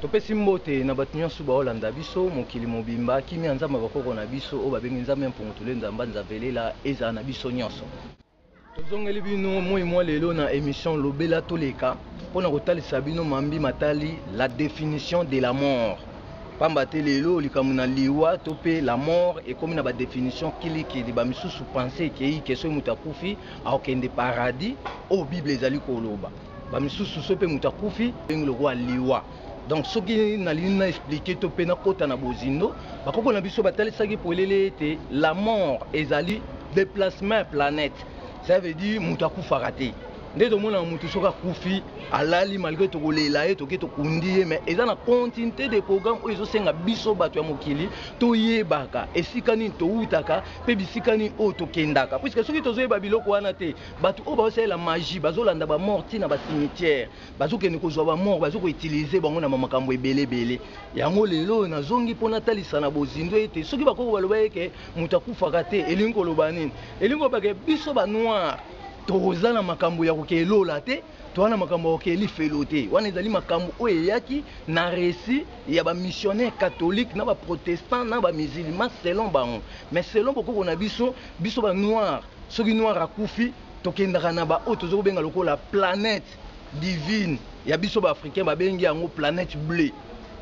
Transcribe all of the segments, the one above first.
Topesi mbote na bato nyonso baolanda biso mokili mobimba. Kimia ya Nzambe ya bakoko na biso, oyo babengi Nzambe ya Mpungutulu Nzamba Nzavelela, ezala na biso nyonso. Tozongeli bino moyi mwa lelo na emission Lobela toleka mpo na kotalisa bino mambi matali la definition de la mort. Pamba te lelo likambo na liwa to mpe la mort ekomi na ba definitions kili kili. Ba misusu pensee ekeyi ke soki moto akufi akokende paradis oyo Bible ezali koloba. ba misusu soki mpe moto akufi ndenge lokola liwa donc soki nalingi na explike to mpe nakota na bozindo bakoko na biso batalisaki polele ete la mort ezali déplacement ya planète ça veut dire moto akufaka te nde tomonaka moto soki akufi alali malgre tokolela ye toke tokundi ye mais eza na continuité de programme oyo ezosenga biso bato ya mokili toyebaka esika nini towutaka mpe bisika nini oyo tokendaka puiske soki tozoyeba biloko wana te bato oyo bazosalela magie bazolanda bamort ntina bacimetière bazokende kozwa bamort bazo koutilize bango na bamakambo ebele ebele yango lelo oyo nazongi mpo natalisa na bozindo ete soki bakoko baloba eke moto akufaka te elingi koloba nini elingi koloba ke biso banoir toza na makambo ya kokee lola te toza na makambo ya kokee lifelo te wana ezali makambo oyo eyaki na resi ya bamissionnaire catholique na baprotestant na bamisilima selon bango mais selon bokoko na biso biso banoir Soki noir akufi tokendaka na ba oyo tozo kobenga lokola planète divine ya biso ba africain babengi yango planète bleu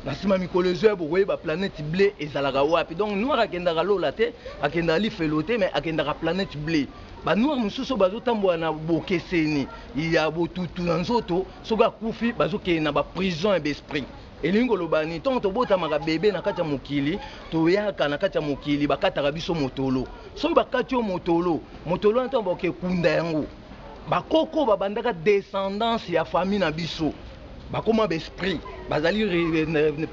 na sima mikolo ezoya bokoyeba planète bleu ezalaka wapi donc noir akendaka lola te akendaka lifelo te mais akendaka planète bleu ba noir mosusu bazotambola na bokeseni ya botutu na nzoto soki akufi bazokende na ba prison ya ba esprit Elingi koloba ni ntango tobotamaka bebe na kati ya mokili, toyaka na kati ya mokili, bakataka biso motolo. Soki bakati yo motolo, motolo wana ntango bakoke kunda yango, bakoko babandaka descendance ya famille na biso, bakoma ba esprit, bazali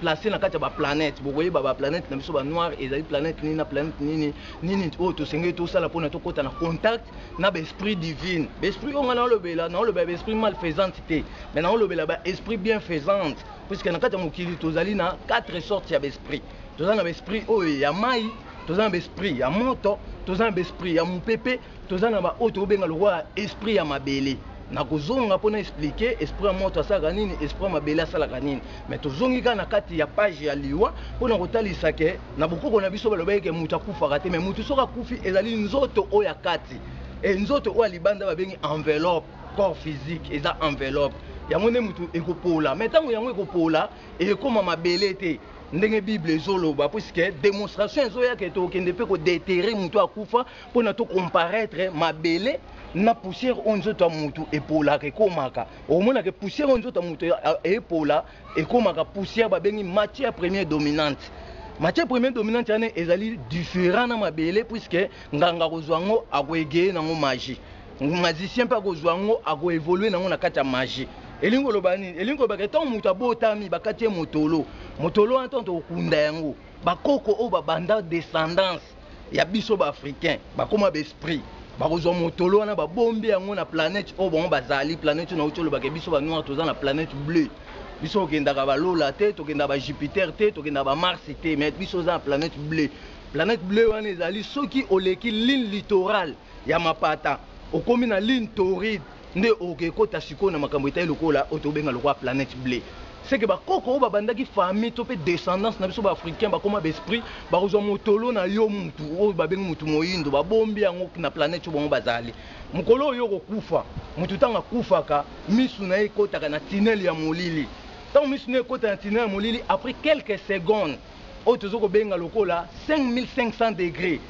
place na kati ya ba planète. Bokoyeba ba planète na biso ba noir ezali planète nini na planète nini, nini oyo tosengeli tosala mpona tokota na contact na ba esprit divine ba esprit oyo nga naolobela naolobela ba esprit malfaisante te mais naolobela ba esprit bienfaisante puisque na kati ya mokili tozali na quatre sortes ya ba esprit toza na ba esprit oyo ya mai toza na ba esprit ya moto toza na ba esprit ya mopepe toza na ba oyo tokobenga lokola esprit ya mabele nakozonga mpo na explike esprit ya moto asalaka nini esprit ya mabele asalaka nini mais tozongi kaka na kati ya page ya liwa mpo na kotalisa ke Na bokoko na biso balobaki ke mutu akufaka te, mais mutu soki akufi ezali nzoto oyo ya kati et nzoto oyo ya libanda babengi enveloppe, corps physique eza enveloppe yango nde mutu ekopola mais tango yango ekopola ekoma mabele te ndenge bible ezoloba puisque demonstration ezoya ke tokokende pe ko deterrer mutu oyo akufa pona to comparaitre mabele na poussière oyo nzoto ya mutu epolaka ekomaka okomona ke poussière oyo nzoto ya mutu epola ekomaka poussière babengi matière première dominante matière première dominante wana ezali différent na mabele puisque nganga akozwa yango akoegeye na yango magie magicien mpe akozwa yango akoevolue na yango na kati ya magie elingi koloba nini elingi kolobaka ntango moto abotami bakati ye motolo motolo wana ntango tokokunda yango bakoko oyo babanda descendance ya biso ba africain bakoma ba esprit bakozwa motolo wana babombi yango na planète oyo bango bazali planète na uti olobaka biso ba noir toza na planète bleu biso tokendaka balola te tokendaka ba jupiter te tokendaka ba mars te mais biso oza na planète bleu planète bleu wana ezali soki oleki ligne littorale ya mapata okomi na ligne toride Nde oke kota sikoyo na makambo etali lokola oyo tobenga lokola planète bleu. Ce que ba koko oyo ba bandaki famille to pe descendance na biso ba africains ba koma ba esprits, ba kozua motolo na yo mutu oyo ba bengi mutu moyindo ba bombi yango na planète oyo bango ba zali. Mokolo oyo yo oko kufa, mutu tango a kufaka misu na ye ekotaka na tunnel ya molili. Tango misu na ye ekota na tunnel ya molili après quelques secondes, oyo tozo kobenga lokola 5500 degre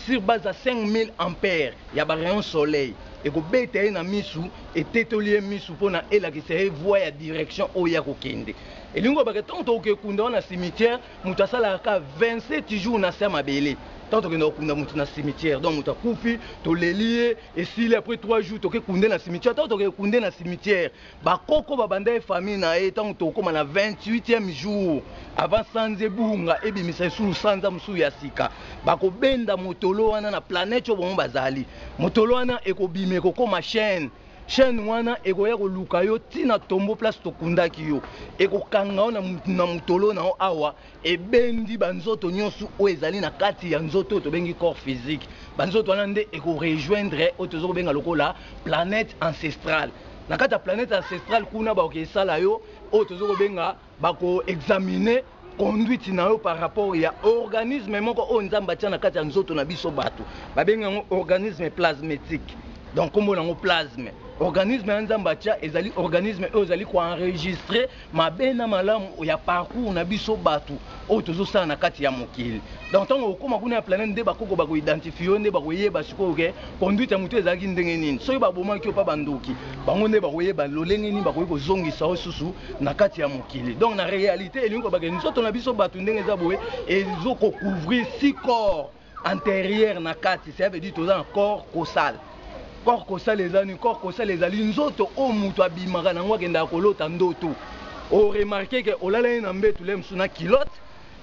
sur base ya 5000 ampere ya ba rayon soleil ekobeta ye na misu etetoli ye misu pona elakisa ye voie ya direction oyo ye akokende elingi koloba ke tango tokokekunda wana cimetière mutu asalaka ka 27 jours nase ya mabele tango tokenda kokunda mutu na cimetière donc mutu akufi toleli ye esili apres 3 jours tokekunde na cimetière tango tokekunde na cimetière Ba koko ba banda ye famille na ye tango tokokoma na 28e jour avant sanza ebunga ebimisa lisusu sanza mosusu ya sika bakobenda motolo wana na planète oyo bango bazali motolo wana ekobima ekokoma chaîne chaîne wana ekoya koluka yo ti na tombo place tokundaki yo ekokanga yo na motolo na yo awa Ebendi ba nzoto nionso oyo ezali na kati ya nzoto oyo tobengi corps physique. Ba nzoto wana nde eko rejoindre oyo tozo kobenga lokola planète ancestrale. Na kati ya planète ancestrale kuna bakoki esala yo oyo tozo kobenga ba ko examiner conduite na yo par rapport ya organisme moko oyo Nzambe atia na kati ya nzoto na biso batu. Ba bengi yango organisme plasmetique. Donc kombo na yango plasme. Organisme wana Nzambe atia ezali organisme oyo ezali ko enregistrer mabe na malamu ya parcours na biso bato oyo tozosala na kati ya mokili donc ntango okoma kuna ya planète nde bakoko bakoidentifie yo nde bakoyeba sikoyo ke conduite ya motu ezalaki ndenge nini soki babomaki yo mpa bandoki bango nde bakoyeba lolenge nini bakoki kozongisa yo susu na kati ya mokili donc na réalité elingi kobake nzoto na biso bato ndenge eza boye ezokocouvrir si corps Anterieur na kati, ça veut dire toza na corps causal. Corps causal eza ni corps causal ezali nzoto o mutu abimaka na ngo akendaka kolota ndoto. O remarquer que olalani na mbetu le musu na culotte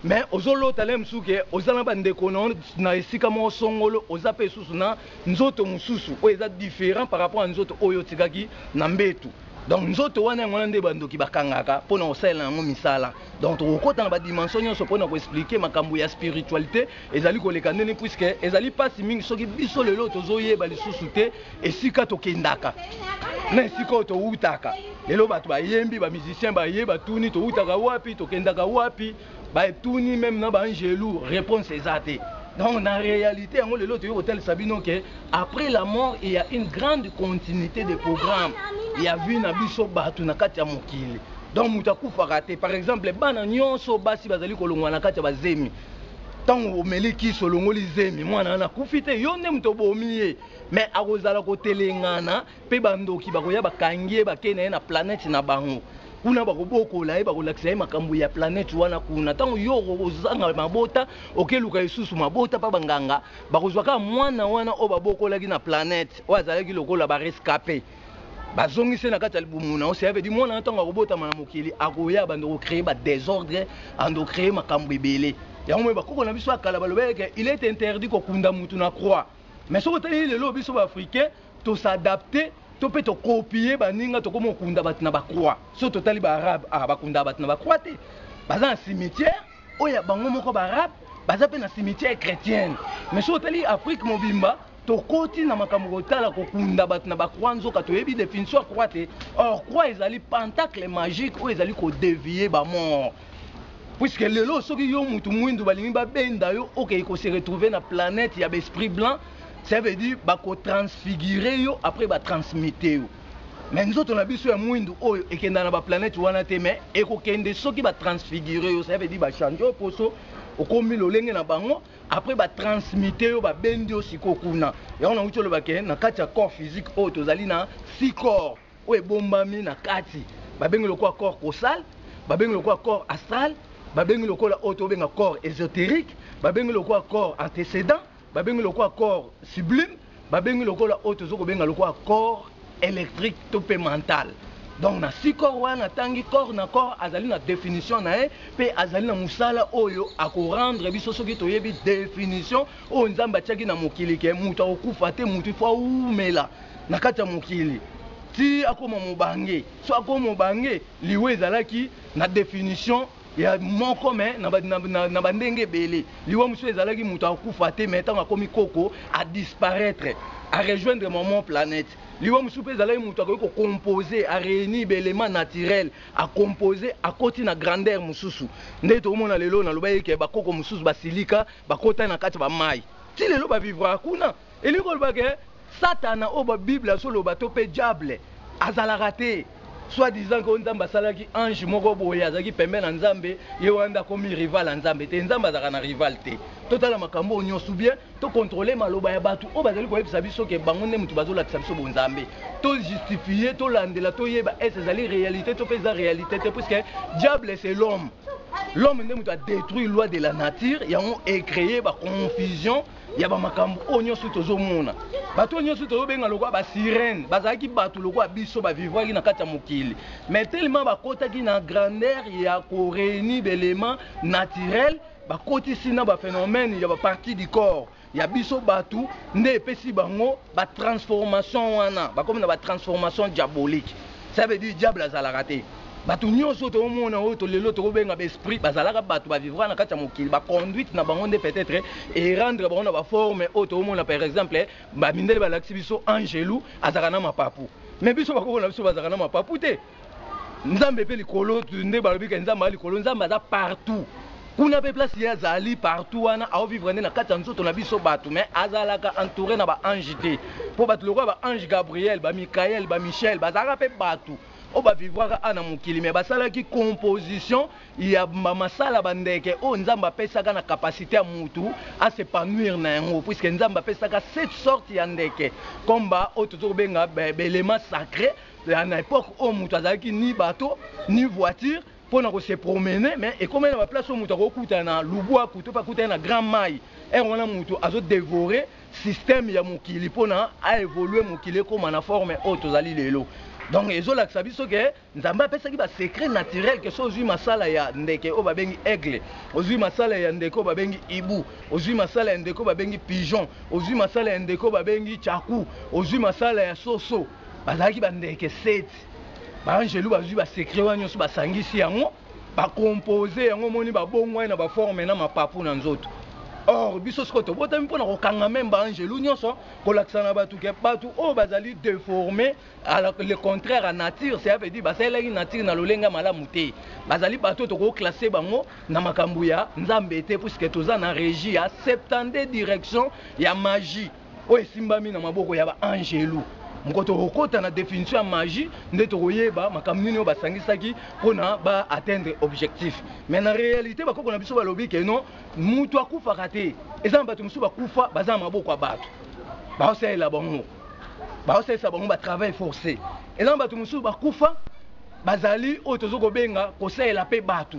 mais ozo lota le musu que oza na ba ndeko na na esika moko songolo oza pe susu na nzoto mususu oyo eza different par rapport à nzoto oyo otikaki na mbetu. Donc nzoto wana yango wana nde ba ndoki bakangaka pona kosalela na ngo misala. Donc tokokota na ba dimension nyonso mpona ko expliquer makambo ya spiritualite ezali koleka ndeni puisque ezali pasi mingi soki biso lelo tozoyeba lisusu te esika tokendaka na esika oyo towutaka lelo bato bayembi ba musicien baye batuni towutaka wapi tokendaka wapi batuni meme na baangelu réponse eza te donc na réalité yango lelo toyei kotalisa bino ke après la mort il ya une grande continuité de programme ya vie na biso bato na kati ya mokili Donc moto akufaka te. Par exemple, bana nionso basi bazali kolongwa na kati ya ba zemi. Tango omeli kisi olongoli zemi, mwana wana akufi te, yo nde moto obomi ye. Mais akozala kotelengana pe ba ndoki bakoya bakangi ye bakei na ye na planète na bango. Kuna bakobokola ye, bakolakisa ye makambo ya planète wana kuna. Tango yo okozanga mabota, oke luka lisusu mabota pa ba nganga, bakozwa kaka mwana wana oyo babokolaki na planète, oyo azalaki lokola ba rescape. bazongisi na kati ya libumu na yo cest veut dire mwana ntango akobotama na mokili akoya bando kocree ba desordre ando cree makambo ebele yango moi bakoko na biso ya kala balobaki ke il est interdit kokunda motu na croix mais soki otaleli lelo biso baafricain tosadapte to mpe tokopie baninga tokomi kokunda bato na bacroix so totali baarabe ah, bakundaka bato na bacroix te baza na cimetière oyo ya bango moko baarabe baza mpe na cimetière chrétienne mais soki otali afrique mobimba Tokoti na makambo kotala kokunda bato na ba croix nzoka toyebi definition ya croix te or croix ezali pentacle magique oyo ezali ko devier ba mort puisque lelo soki yo mutu mwindu balingi babenda yo okei okay, ko se retrouver na planète ya besprit blanc ça veut dire bako transfigure yo après ba transmute yo mais nzoto na biso ya mwindu oyo ekenda na ba planète wana te mais ekokende soki ba transfigure yo ça veut dire ba change yo poso okomi lolenge na bango après ba transmite yo ba bendi yo sikoyo kuna yango na wuti oloba ke na kati ya corps physique oyo tozali na six corps oyo ebombami na kati ba bengi lokola corps cosal ba bengi lokola corps astral ba bengi lokola oyo tobenga corps esoterique ba bengi lokola corps antecedent ba bengi lokola corps sublime Babengi lokola oyo tozo kobenga lokola corps electrique to pe mental. Donc na si corps wana na tangi corps na corps azali na definition na ye pe azali na musala oyo ako rendre biso soki toyebi definition oyo Nzambe atiaki na mokili ke mutu ako kufa te mutu il faut awumela na kati ya mokili ti akoma mobange. Soki akomi mobange liwa ezalaki na definition. ya moko mais na ba na ba ndenge ebele liwa mosusu ezalaki mutu akufa te mais tango akomi koko a disparaitre a rejoindre maman planète liwa mosusu pe ezalaki mutu akoki ko compose a reunir ba element naturel a compose akoti na grandeur mosusu nde tokomona lelo nalobaki ke ba koko mosusu basilika bakota na kati ba mayi ti lelo ba vivraka kuna Elingi koloba que satana oyo ba bible azo loba to pe diable azalaka te soit disant que nzambe asalaki ange moko boye azalaki pembeni ya nzambe ye wana nde akomi rival ya nzambe te nzambe azalaka na rival te totala makambo oyo nionso ou bien to controler maloba ya batu oyo bazali koyebisa biso que bango nde mutu bazo lakisa biso bonzambe to justifier to landela to yeba est ezali realite to pe eza realite te puisque diable c'est l'homme l'homme nde mutu a detruit loi de la nature yango e cree ba confusion ya ba makambo oyo nyonso tozomona. Bato oyo nyonso tozobenga lokola ba sirènes bazalaki bato lokola biso, ba vivraki na kati ya mokili mais tellement bakotaki na grandeur ya ko reunir ba elements naturels bakotisi na ba phenomènes ya ba parties du corps ya biso bato nde epesi bango Ba transformations wana bakomi na ba transformations diaboliques ça veut dire diable azalaka te. Batu nionso oyo tozomona oyo to lelo tokobenga ba esprits bazalaka batu ba vivraka na kati ya mokili ba conduites na bango nde peut etre e rendre bango na ba formes oyo tozomona par exemple ba mindele balakisi biso angelu azalaka na mapapu mais biso bakoko na biso bazalaka na mapapu te. Nzambe pe likolo nde balobi ke Nzambe aza likolo, Nzambe aza partout kuna pe place ye azali partout wana ao vivre nde na kati ya nzoto na biso batu mais azalaka entoure na ba ange te po batu lokola ba ange Gabriel, ba Michael, ba Michel bazalaka pe batu oyo ba vivraka awa na mokili mais basalaki composition ya ba masala ba ndeke oyo Nzambe apesaka na capacite ya mutu a s'epanouir na yango puisque Nzambe apesaka sept sortes ya ndeke comme ba oyo tozo kobenga ba elements sacres Ya na epoque oyo mutu azalaki ni bateau ni voiture pona ko se promener mais ekomaki na ba place oyo mutu akoki kokutana na lubuaku to pe akutani na grand mayi heure wana mutu azo devorer système ya mokili pona a evoluer mokili ekoma na forme oyo tozali lelo donc ezo lakisa biso ke nzambe apesaki ba secret naturel ke soki ozui masala ya ndeke oyo babengi aigle ozui masala ya ndeke oyo babengi hibou ozui masala ya ndeke oyo babengi pigeon ozui masala ya ndeke oyo babengi tshaku ozui masala ya soso Bazalaki ba ndeke 7. Ba angelu bazui ba secret wana nyoso ba sangisi yango ba compose yango moni ba bongwani na ba forme na mapapu na nzoto. Or biso siko tobotami mpo na kokanga meme ba angelu nyoso kolakisa na batu ke batu oyo bazali deforme le contraire ya nature cela veut dire basalelaki nature na lolenge ya malamu te. Bazali batu oyo toko classe bango na makambo ya Nzambe te puisque toza na regie ya 72 direction ya magie. oyo esimbami na maboko ya baangelu moko tokokota na definition ya magie nde tokoyeba makambo nini oyo basangisaki mpona ba atteindre objectif mais na réalité bakoko na biso balobi ke non moto akufaka te eza na bato mosusu bakufa baza na maboko ya bato baosalela bango baosalisa bango ba travail forcé eza na bato mosusu bakufa bazali oyo tozo kobenga kosalela mpe bato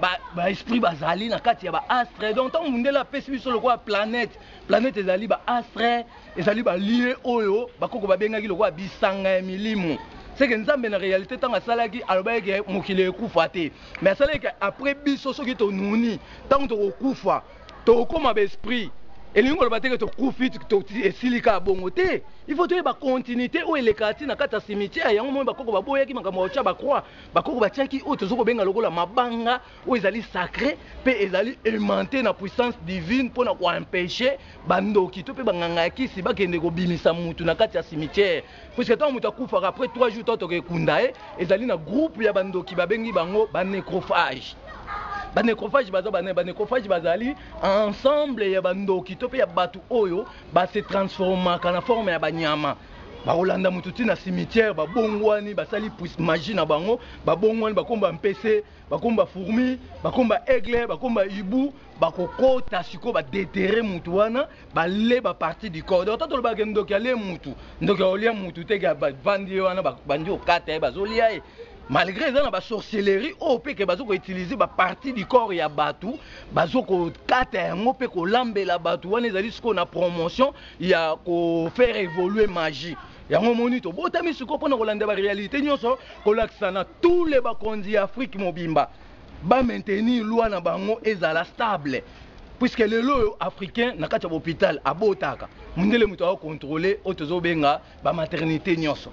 ba, ba esprit bazali na kati ya ba astre donc ntango mundele apesi biso lokola planète planète ezali ba astre ezali balie oyo bakoko babengaki lokola bisanga ya milimo seke nzambe na réalité ntango asalaki alobaki ke mokili ekufa te mais asalaki ke après biso soki tonuni ntango tokokufa tokokoma baesprit elingi koloba teke tokufi esili kaka bongo te il faut toyeba continuité oyo elekaka ti na kati ya cimetière yango moi bakoko baboyaki makambo ya kotya bacroix Bakoko batiaki oyo tozo kobenga lokola mabanga oyo ezali sacre pe ezali aimante na puissance divine mpo na ko empecher ba ndoki to pe ba nganga ya kisi bakende kobimisa mutu na kati ya cimetière puisque tango mutu akufaka après 3 jours tango toke kunda ye ezali na groupe ya ba ndoki babengi bango ba necrophage ba necrophage baza ba nani ba necrophage bazali ensemble ya ba ndoki to pe ya batu oyo ba se transformaka na forme ya ba nyama bakolanda moto ti na cimetière babongwani basali magie na bango babongwani bakomba mpese bakomba fourmi bakomba aigle bakomba ibu bakokota sikoyo badetere motu wana bale baparti du corps donc ta tolobaka ndoki alie motu ndoki aolia motu te bavandi ye wana bandi okata ye bazolia ye malgré eza na basorcellerie oyo mpe ke bazo koutilize baparti du corps ya bato bazo kokata yango mpe kolambela bato wana ezali sikoyo na promotion ya ko faire evoluer magie yango omoni tobotami sikoyo mpo na kolanda barealité nyonso kolakisa na tous les bakonzi ya afrique mobimba ba maintenir loi na bango ezala stable puisque lelo oyo africain na kati ya bopital abotaka mundele moto akocontrole oyo tozobenga ba maternite nionso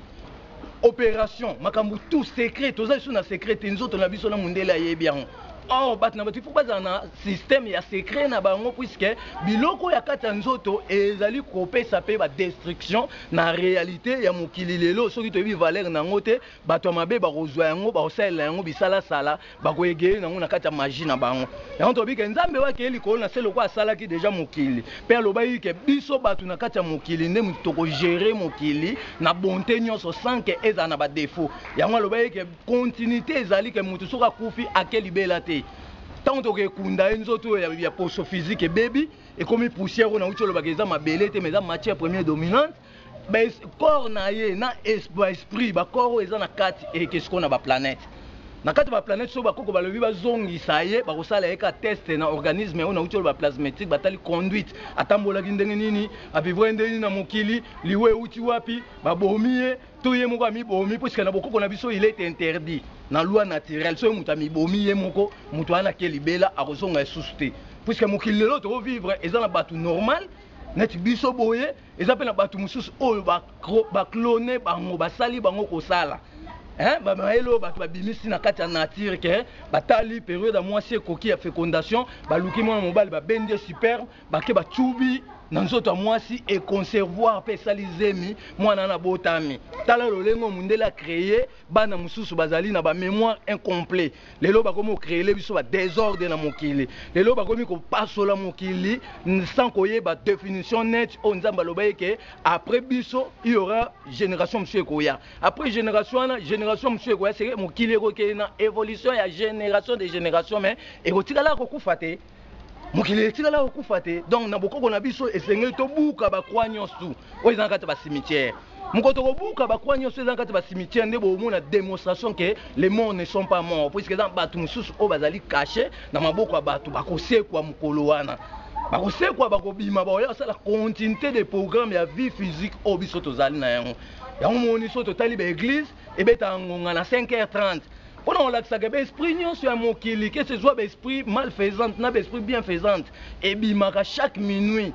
operation makambo tout secret toza lisusu na secret te nzoto na biso na mundele ayebi yango or bato na bato il faut bazala na système ya secret na bango puisque biloko ya kati ya nzoto ezali kopesa mpe badestruction na réalité ya mokili lelo soki toyebi valeur na yango te Bato ya mabe bakozwa yango, bakosalela yango bisalasala, bakoegeye na yango na kati ya maji na bango. Yango tolobi ke, Nzambe oyo akeli likolo na se lokola asalaki deja mokili, pe alobaki ke biso bato na kati ya mokili nde moto toko gerer mokili na bonte nionso sans ke ezala na ba defauts. Yango alobaki ke continuite ezali ke moto soki akufi ake libela te. Tango tokekunda ye, nzoto oyo ya poso physique ebebi, ekomi poussière oyo nawuti oloba ke eza mabele te mais eza matière première dominante. ba corps na ye na ba esprit ba corps oyo eza na kati eleki sikoyo na ba planète na kati ba planète soki bakoko balobi bazongisa ye bakosala ye ka test na organisme oyo nauti oloba plasmetique batali conduite atambolaki ndenge nini abivraki ndenge nini na mokili liwa euti wapi babomi ye to ye moko amibomi mpo sika na bokoko na biso il est interdit na loi naturelle soki moto amibomi ye moko moto wana ake libela akozonga esusu te mpo sika mokili lelo tokovivre eza na bato normal neti biso boye Eza pe na batu mususu oyo ba clone bango basali bango kosala hein ba mayele oyo batu babimisi na kati ya nature ke batali periode ya muasi ekoki ya fecondation baluki muana mobali ba bendi ye superbe bake ba tsubi na nzoto ya muasi e conservoir pe esali zemi muana wana abotami tala lolenge oyo mundele a cree bana mususu bazali na ba memoire incomplet Lelo bakomi ko creer biso ba desordre na mokili. Lelo bakomi kopasola mokili sans koyeba definition nette oyo Nzambe alobaki ke après biso il y aura generation mosusu ekoya. Après generation wana generation mosusu ekoya seke mokili ekokende na evolution ya generation de generation mais ekotikala kokufa te. mokili etikala kokufa te donc na bokoko na biso esengeli tobuka bakwa nyonso oyo eza na kati ya basimitiere moko tokobuka bakwa nyonso eza na kati ya basimitiere nde bomona démonstration ke le mort ne sont pas mort puiske eza bato mosusu oyo bazali kashe na maboko ya bato bakosekwa mokolo wana bakosekwa bakobima baoya kosala continuité de programme ya vie physique oyo biso tozali na yango yango moni so totali baeglise ebetaka ngonga na 5h30 mpona kolakisaka ba esprit nyonso ya mokili kese ezwa ba esprit malfaisante na ba esprit bienfaisante ebimaka chaque minuit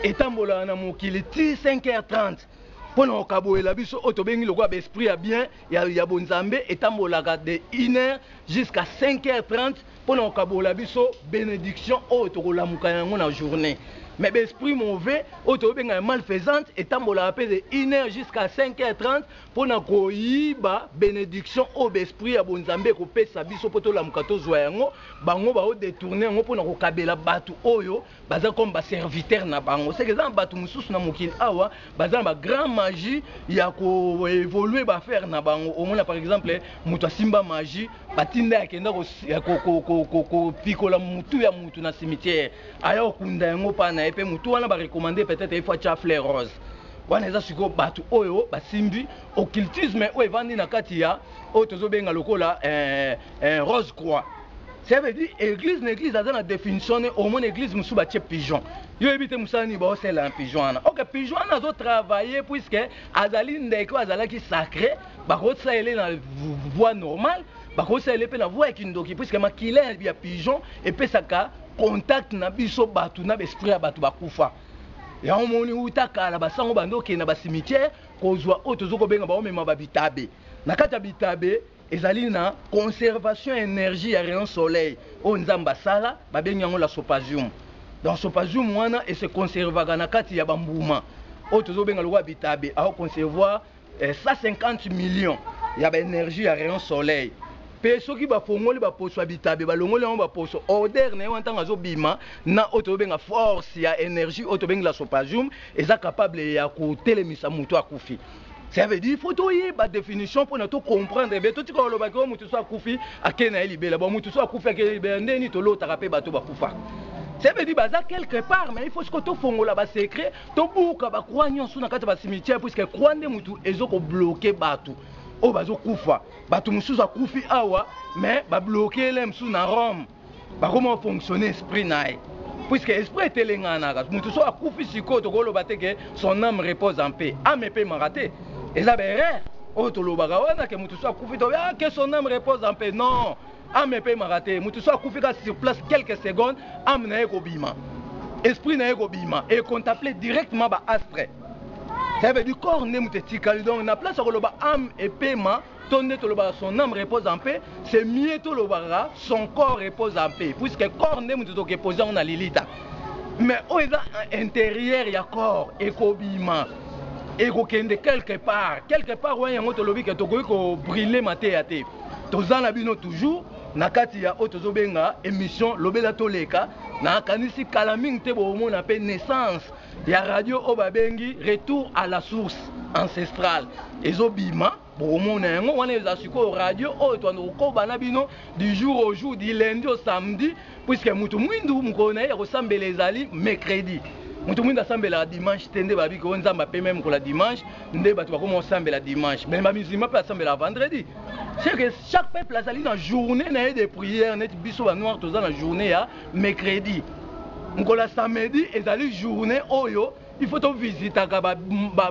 etambolaka na mokili ti 5h30 mpona kokabolela biso oyo tobengi lokola ba esprit ya bien ya, ya bonzambe etambolaka de 1h jusqu'à 5h30 mpona kokabola biso benediction oyo tokolamuka yango na journée mais ba esprit mauvais oyo tobenga ya malfaisante etambolaka mpe de 1h jusqu'à 5h30 mpo na koyiba benediction oyo ba esprits ya bonzambe ekopesa biso mpo tolamuka tozua yango, bango bao detourner yango mpo na kokabela batu oyo baza comme ba serviteurs na bango, seke eza na batu mosusu na mokili awa baza na ba grand magie ya ko evoluer ba affaires na bango, omona par exemple mutu asimba magie batinda ye akenda kopikola mutu ya mutu na cimetière. aya okunda yango pa na ye mpe motu wana barekomande peut-être ye fo atya fleur rose wana eza sikoyo bato oyo basimbi occultisme oyo evandi na kati ya oyo tozobenga lokola eh, eh, rose croix ça veut dire église na église aza na définition ne omona église mosusu batye pigeon yo oyebi te mosala nini baosala na pigeon wana ok pigeon wana azotravaille puiske azali ndeke oyo azalaki sacré bakosala ele na voie normale bakosala ele mpe na voie ya kindoki puiske makila ya pigeon epesaka contact na biso batu na ba esprit ya batu bakufa yango moni uta kala basango bando okende na ba cimetière kozwa oyo tozo kobenga baomema ba bitabe na kati ya bitabe ezali na conservation energie ya rayon soleil oyo nzambe asala babengi yango la sopazium donc sopazium wana ese conservaka na kati ya bambuma oyo tozo benga lokola bitabe ao conservoir 150 millions ya ba energie ya rayon soleil pe soki ba fongoli ba poso ya bitabe ba longoli yango ba poso odeur na ye wana tango azo bima na oyo tozo benga force ya energie oyo tobengi la sopajum eza capable ya ko telemisa mutu akufi ça veut dire faut toyeba definition pona to comprendre be totika koloba ke mutu so akufi ake na ye libela bon mutu so akufi ake libela ndeni tolotaka pe bato bakufa ça veut dire baza quelque part mais il faut siko tofongola ba secret Tobuka ba croix nionso na kati ya ba cimetière puisque croix nde mutu ezo ko bloquer batu oyo bazo kufa. Batu mususu akufi awa mais ba bloquer le mususu na Rome. Bakoma ko fonctionner esprit na ye. Puisque esprit etelenganaka. Mutu soki akufi sikoyo tokoki koloba te que son ame repose en paix. Ame epemaka te. Eza ba erreur oyo tolobaka wana que mutu soki akufi tolobi ah que son ame repose en paix. Non! Ame epemaka te, mutu soki akufi kaka sur place quelques secondes ame na ye ekobima, esprit na ye ekobima e contemple directement ba astres. Cela veut dire corps nde mutu etikali donc na place ya koloba ame epema to nde tolobaka son ame repose en paix, c'est mieux tolobaka son corps repose en paix puisque corps nde mutu toke poser yango na lilita mais oyo eza interieur ya corps ekobima ekokende quelque part quelque part wana yango tolobi ke tokoki ko brûler mateya te. toza na bino toujours na kati ya oyo tozobenga émission lobela toleka nakanisi kala mingi te bokomona mpe naissance ya radio oyo babengi retour à la source ancestrale ezobima bokomona yango wana eza sikoyo radio oyo toanda kokoba na bino du jour au jour du lundi au samedi puisque mutu mwindu mokolo na ye ya kosambela ezali mercredi mutu mwindu asambelaka dimanche te nde babi ko nzambe apemeli mokolo ya dimanche nde bato bakoma kosambela dimanche mais ba musulman mpe asambelaka vendredi c'est que chaque peuple azali na journée na ye de prière neti biso ba noir toza na journée ya mercredi mokolo ya samedi ezali journée oyo il faut tovisitaka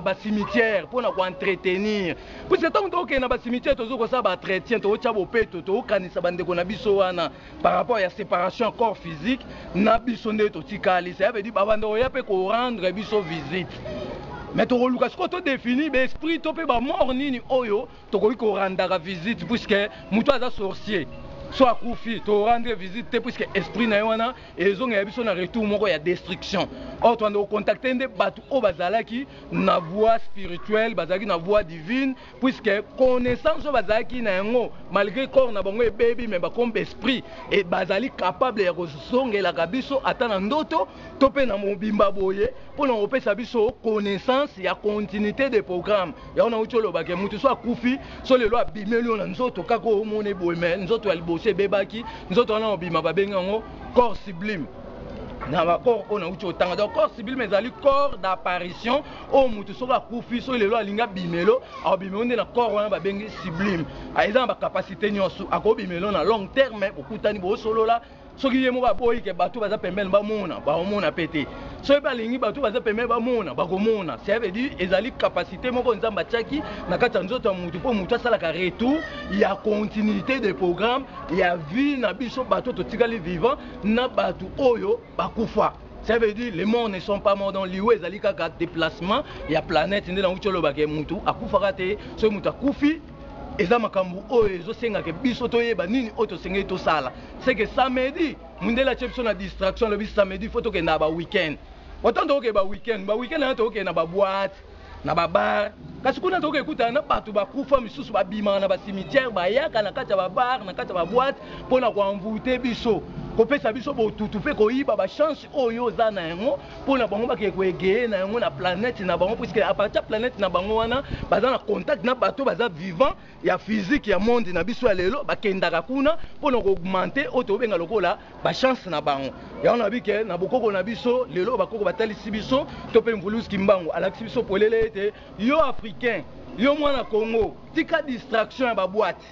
bacimetière mpo na koentretenir puisque ntango tokokende na bacimetière tozo kosala baentretien tokotya bopeto tokokanisa bandeko na biso wana par rapport ya separation ya corps physique na biso nde totikali cela veut dire babanda koya mpe korendre biso visite me tokoluka sikoyo todefini baesprit to mpe bamort nini oyo tokoki korandaka visite puiske moto aza sorcier so akufi torendre visite te puiske esprit na ye wana ezongela biso na retour moko ya destruction or tobanda kocontacte nde bato oyo bazalaki na voie spirituelle bazalaki na voie divine puisque connaissance oyo bazalaki na yango malgre corps na bango ebebi mais ba comme esprit et bazali capable ya kozongelaka biso ata na ndoto to mpe na mobimba boye mpo na kopesa biso connaissance ya continuité de programme yango nauti olobake moto so akufi so lelo abimeli yo na nzoto kaka omoni boye mais nzoto ya liboso ebebaki nzoto wana obima babengi yango corps sublime na bacor oyo nauti otanga donc corps sublime ezali corps d'apparition oyo mutu soki akufi soki lelo alingi abimelo akobimelo nde na corps wana babengi sublime ah, eza na bacapacité nyonso akobimelo na long terme bokutani bosolola soki ye moko aboyi ke bato baza pembeni bamona baomona mpe te soki mpe alingi bato baza pembeni bamona bakomona cest veut dire ezali capacité moko nzambe atiaki na kati ya nzoto ya moto mpo moto asalaka retour ya continuité de programme ya vie na biso bato totikali vivant na bato oyo bakufa Ça veut dire les morts ne sont pas morts donc liwa ezali kaka déplacement ya planète nde nango tioloba ke mutu akufaka te soki mutu akufi eza makambo oyo ezosengaka biso toyeba nini oyo tosengeli tosala seke samedi mundele atie biso na distraction alobi samedi fo tokenda ba weekend otan tokokee ba weekend ba weekend yango tokokee na baboite na ba bar kasi kuna tokoki ekutana na bato bakufa misusu babimaka na bacimetière bayaka na kati ya babar na kati ya baboite mpo na koenvoute biso kopesa biso botutu mpe koyiba bachance oyo oza na yango mpo na bango bakee koegeye na yango na planète na bango puiske apartir ya planète na bango wana baza na contact na bato baza vivant ya physique ya monde na biso ya lelo bakendaka kuna mpo na koaugmente oyo tobenga lokola bachance na bango yango na bike na bokoko na biso lelo bakoko batalisi biso to mpe mvulus kimbangu alakisi biso polele ete yo africain yo mwana congo tika distraction ya babwate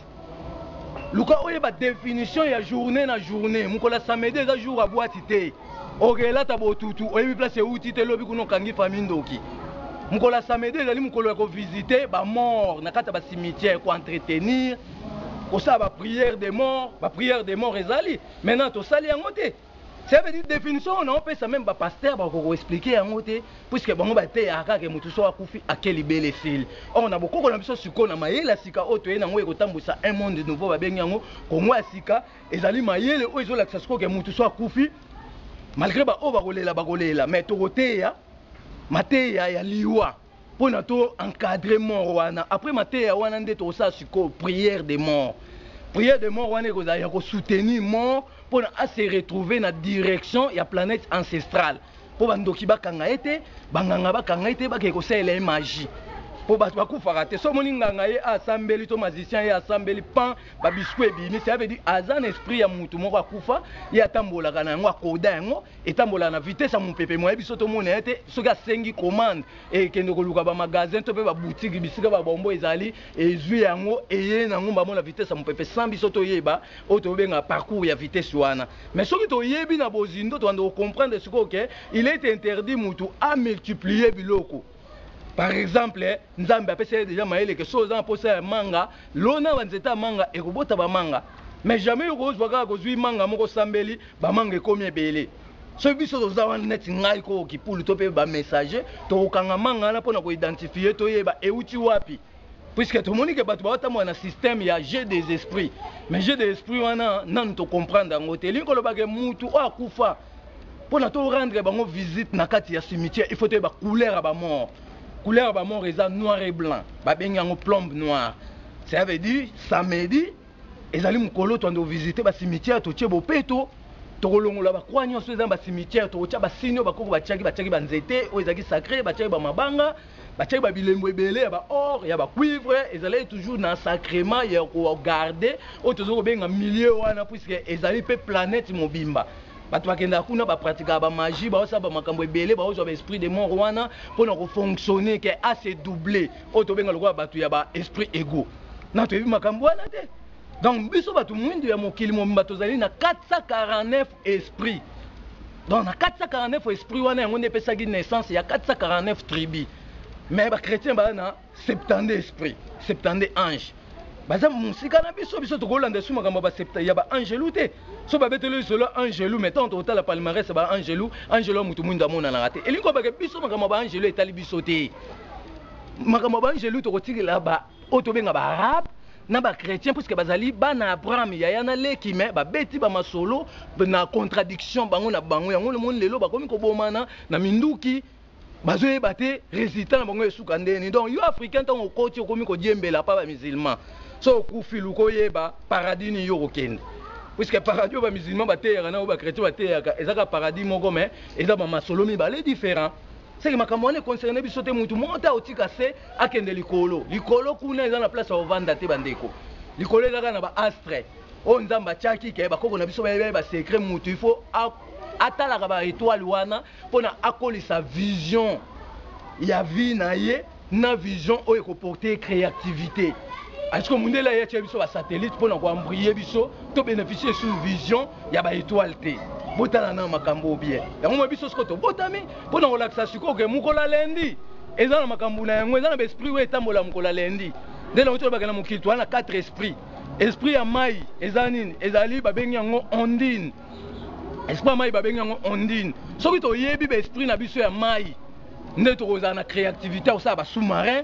luka oyeba definition ya journée na journée mokolo ya samedi eza jour ya bwati te Ok elata botutu oyebi place ewuti te lobi kuna okangi famille ndoki. Mokolo ya samedi ezali mokolo ya ko visiter ba morts na kati ya ba cimetières ko entretenir kosala ba prières des morts ba prières des morts ezali maintenant tosali yango te cela veut dire definition oyo nao pesa meme ba pasteurs bakoka ko expliquer yango te puisque bango bateyaka kaka que mutu soki akufi ake libela esili or na bokoko na biso sikoyo na mayele ya sika oyo toye na yango ekotambuisa un monde nouveau babengi yango Congo ya sika Ezali mayele oyo ezolakisa sikoyo ke mutu so akufi malgre ba oyo bakolela bakolela mais tokoteya mateya ya liwa pona to encadre mort wana après mateya wana nde tokosala sikoyo prière de mort prière de mort wana ekozala ya kosoutenir mort pona a se retrouver na direction ya planète ancestrale po bandoki bakanga ye te banganga bakanga ye te bakee kosalela ye magie po bato bakufaka te so omoni nganga ye asambeli to magicien ye asambeli pan ba biscuit ebimi ça veut dire aza na esprit ya mutu moko akufa ye atambolaka na yango akoda yango etambolaka na vitesse ya mopepe moye biso tomona ye te soki asengi commande ekende koluka ba magasin to mpe ba boutique bisika ba bombo ezali ezwi yango eye na yango mbamo na vitesse ya mopepe sans biso toyeba oyo tobenga parcours ya vitesse wana mais soki toyebi na bozindo tobanda kocomprendre sikoyo ke il est interdit mutu amultiplier biloko Par exemple, Nzambe apesa ye deja mayele que soki oza na posa ya manga, lona ba nzete ya manga ekobota ba manga. Mais jamais yo kozwa kaka kozui manga moko osambeli ba manga ekomi ebele. Soki biso toza wana neti ngai koo kipulu to pe ba messager tokokanga manga wana pona ko identifier toyeba ewuti wapi. puisque tomoni ke bato baotambola na système ya jeu des esprits mais jeu des esprits wana nanu tocomprendre yango te elingi koloba ke mutu oyo akufa mpo na torendre bango visite na kati ya cimetière il faut toyeba couleur ya bamort couleur ya bamort eza noir et blanc babengi yango plombe noire ça veut dire samedi ezali mokolo toando visite bacimetière totie bopeto tokolongola bakwa nyonso eza na bacimetière tokotya basini oyo bakoko batyaki batyaki banzete oyo ezalaki sacre batyaki bamabanga Batiaki ba bilembo ebele ya ba or, ya ba cuivre, ezalaki toujours na sacrement ya ko garder oyo tozo ko benga milieu wana puisque ezali pe planète mobimba. Batu ba kendaka kuna ba pratikaka ba magie, bazo sala ba makambo ebele, bazo zwa ba esprits de mort wana pona ko fonctionner que a se doubler, oyo to benga lokola batu ya ba esprits egaux. Non toyebi makambo wana te. Donc biso batu muindu ya mokili mobimba tozali na 449 esprits. Donc na 449 esprit wana yango nde epesaki naissance ya 449 tribus. Mais ba chrétiens ba na 72 esprit, 72 anges. Baza musika na biso biso tokolanda su makambo ba septa ya ba angelu te. So ba betelo isolo angelu mais tant otala palmarès ba angelu, angelu mutu mwinda amona na te. Elingo ba biso makambo ba angelu etali biso te. Makambo ba angelu tokotikela ba oyo tobenga ba arabe na ba chretien puisque bazali bana abraham yaya na leki me babeti bamasolo na contradiction bango na bango yango lomoni lelo bakomi kobomana na minduki bazoyeba te resultat na bango esuka ndeni donc yo africain ntango okoti okomi kodiembela pa bamusulman so okufi luka oyeba paradis nini yo okokende puisque paradis oyo bamusulman bateyaka na oyo bachretien bateyaka ezaka paradis moko me eza bamasolo mibale différent seke makambo wana econcerne biso te mutu moko te akotika se akende likolo likolo kuna eza na place ya ovanda te bandeko likolo ezaka na baastre oyo nzambe atiaki ke bakoko na biso bayebi basecret mutu il faut atalaka baetoile wana mpona akolisa vision ya vie na ye na vision oyo eko porter creativite est-ce que mundele aye atia biso ba satellite pona ko embriller biso to beneficier sur vision ya ba etoiles te botala na makambo oyo bien yango moi biso siko tobotami pona kolakisa sikoyo ke mokolo ya lundi eza na makambo na yango eza na ba esprit oyo etambola mokolo ya lundi nde nango tolobaka na mokili toa na quatre esprit esprit ya mai eza nini ezali babengi yango ondine esprit ya mai babengi yango ondine soki toyebi baesprit na biso ya mai nde tokozala na créativité ya kosala basous-marin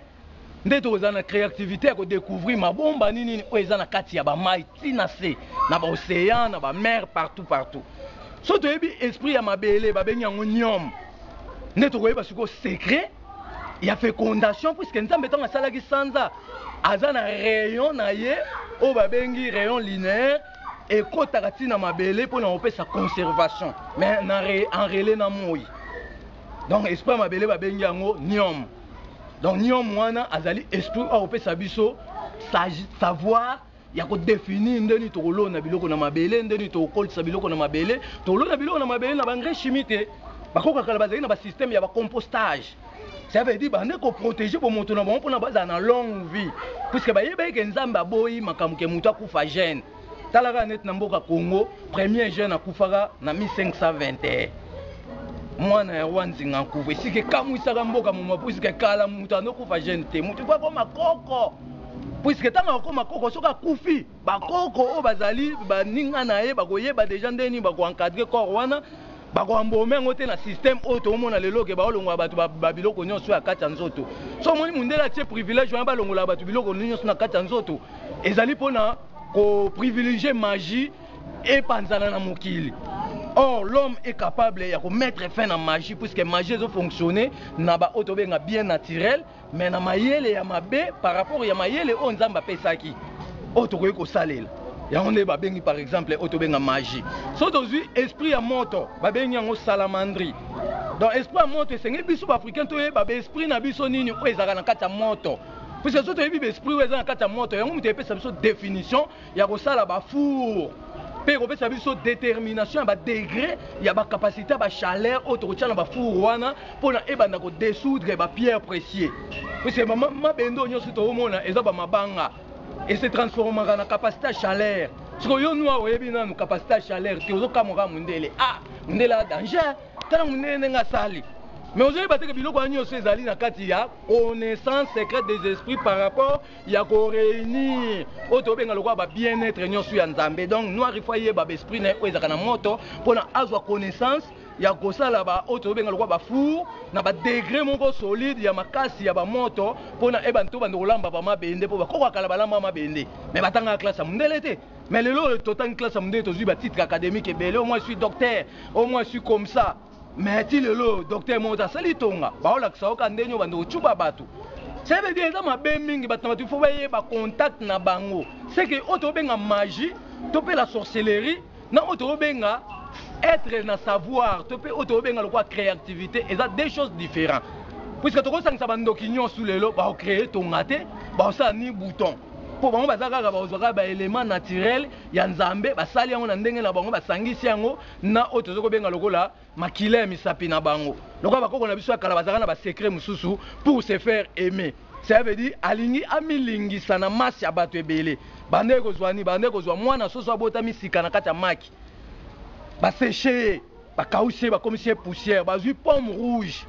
nde tokozala na créativité ya kodecouvrir mabomba nini nini oyo eza na kati ya bamai ti na se na baocéan na bamare partout partout soki toyebi esprit ya mabele babengi yango niome nde tokoyeba sikoyo secret ya fécondation puiske nzambe ntango asalaki sanza aza na rayon na ye oyo babengi rayon linéaire Ekotaka ti na mabele pona kopesa conservation mais na enrele na moyi donc esprit ya mabele babengi yango niom donc niom wana azali esprit oyo akopesa biso savoir ya kodefinir nde nini tokolona biloko na mabele nde nini tokokolisa biloko na mabele tokolona biloko na mabele na baengrais chimie te bakoko ya kala bazali na basysteme ya bacompostage Ça veut dire bande ko protéger bo moto na bango pona bazala na longue vie. Puisque ba yebaki ke Nzambe aboyi makambo ke moto akufa jeune. Tala kaka neti na mboka Congo, premier jeune akufaka na 1521. Mwana ya roi Nzinga Nkuvu. Esika ekamwisaka mboka moma puisque kala moto anokufa jeune te. Moto po akoma koko. Puisque tango akoma koko soki akufi Ba koko oyo bazali ba ninga na ye bako yeba dejà ndenge nini bako encadrer corps wana, bako embaumer yango te na système oyo tozo mona lelo que bao longola batu ba biloko nionso ya kati ya nzoto. Soki omoni mundele atie privilège wana ba longolaka batu biloko nionso na kati ya nzoto, ezali pona ko privilegier magie epanzana na mokili. Or l'homme est capable yako mettre fin na magie puisque magie ezo fonctionner na ba oyo tozo benga bien naturel, mais na mayele ya mabe par rapport ya mayele oyo nzambe apesaki oyo tokoki kosalela yango nde babengi par exemple oyo tobenga magie so tozwi esprit ya moto babengi yango salamandri donc esprit ya moto esengeli biso baafricain toyeba baesprit na biso nini oyo ezalaka na kati ya moto puisque so toyebi baesprit oyo eza na kati ya moto yango moto epesa biso definition ya kosala ba four mpe ekopesa biso determination ya ba degre ya ba capacite ya ba chaleur oyo tokotia na ba four wana mpona ebanda ko desoudre ba pierre precieux puisque mabende oyo nyonso toomona eza ba mabanga et se transformaka na capacite ya chaleur siko yo nua oyebi nanu capacite ya chaleur te ozokamwa kaka mundele ah mundele a danger tala mundele ndenge asali mais ozoyeba te ke biloko wana nyonso ezali na kati ya connaissance secrète des esprits par rapport ya ko reunir oyo tobenga lokola ba bien être nyonso ya nzambe donc noir il faut ayeba ba esprit na ye oyo ezalaka na moto mpona azwa connaissance ya kosala ba oyo tobenga lokola ba four na ba degre moko solide ya makasi ya bamoto mpona e banto bando kolamba ba mabende mpo bakoko ya kala balamba mabende me batangaka classe ya mondele te me lelo oyo totangi classe ya mondele tozwi batitre académique ebele omoi sui docteur omoi sui comme ça Mais ti lelo docteur moko te asali tonga, baolakisa yo kaka ndenge obanda kotshuba batu. Ça veut dire eza mabe mingi, batu na batu il faut bayeba contact na bango. Ce que oyo tobenga magie to pe la sorcellerie na oyo tobenga etre na savoir to pe oyo tobenga lokola creativite eza deux choses differents. Puisque tokosangisa ba ndoki nionso lelo bao creer tonga te, baosala ni bouton. mpo bango baza kaka bakozwa kaka ba element naturel ya nzambe basali yango na ndenge na bango basangisi yango na oyo tozo kobenga lokola makila ya misapi na bango lokola bakoko na biso ya kala bazalaka na ba secret mosusu pour se faire aimer cela veut dire alingi amilingisa na masse ya bato ebele banda ye kozwa nini banda ye kozwa mwana soso abotami sika na kati ya maki ba seche ye bakausi ye bakomisi ye poussière bazwi pomme rouge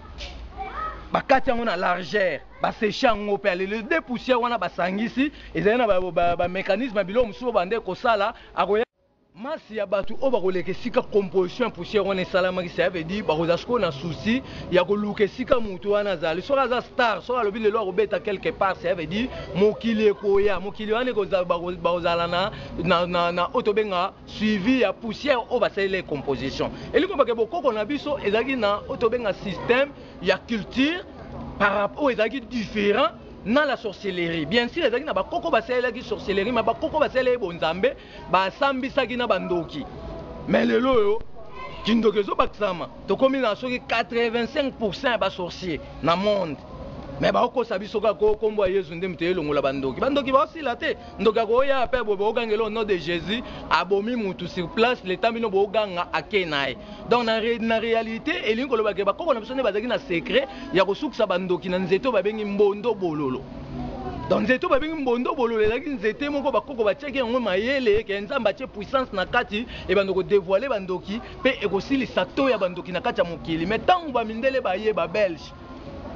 bakati yango na largeur baseche yango mpe aleli de poussière wana basangisi ezali na bamécanisme ba, ba ya biloko mosusu oyo banda ye kosala akoya Masse ya batu oyo bakoleka esika composition ya poussière wana esalamaki, cela veut dire bakozala sikoyo na souci ya koluka esika mutu wana azali. Soki aza star, soki alobi lelo akobeta quelque part, cela veut dire mokili ekoya. Mokili wana ekozala, bakozala na, na oyo tobenga suivi ya poussière oyo basalela ye composition. Elingi koloba que bokoko na biso ezalaki na oyo tobenga système ya culture par rap, oyo ezalaki different na la sorcellerie. Bien sur ezalaki na bakoko basalelaki sorcellerie, mais bakoko basalelaki bonzambe. Ba sambisaki na ba ndoki mais lelo oyo kindoki ezo bakisama tokomi na soki 85 pourcent ya ba sorciers na monde mais ba kosa biso kaka ko kombo ya Yezu nde moto elongola ba ndoki ba ndoki ba sila te ndoki ako ya pe bo bo gangela au nom de Jesus abomi mutu sur place le temps bino bo ganga ake naye donc na na realite elingi koloba ke ba koko na biso nde bazalaki na secret ya kosukisa ba ndoki na nzete oyo ba bengi mbondo bololo Donc nzete oyo babengi mbondo bololo ezalaki nzete moko bakoko batiaki yango mayele eke Nzambe atie puissance na kati ebanda ko devoile ba ndoki pe ekosilisa taux ya ba ndoki na kati ya mokili mais tango ba mindele baye ba belge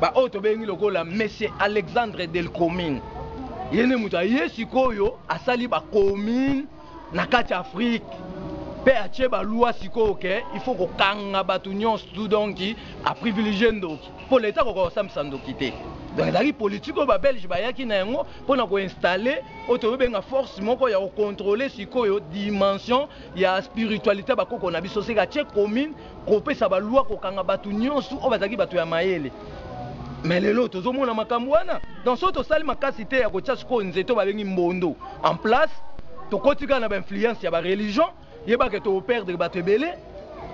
ba oyo tobengi lokola monsieur Alexandre Delcomine ye nde moto aye sikoyo asali ba commune na kati ya Afrique pe atie ba lois sikoyo ke il faut ko kanga batu nionso tout donc a privilegier ndoki po l'etat akoka ko sambisa ndoki te. Donc ezalaki politique oyo ba belge bayaki na yango pona ko installer oyo tozo benga force moko ya ko controler sikoyo dimension ya spiritualite ya ba koko na biso seke atie commune kopesa ba loi kokanga batu nionso oyo bazalaki batu ya mayele mais lelo tozo mona makambu wana donc soki tosali makasi te ya kotia sikoyo nzete oyo babengi mbondo en place tokoti kaka na ba influence ya ba religion yeba ke toko perdre batu ebele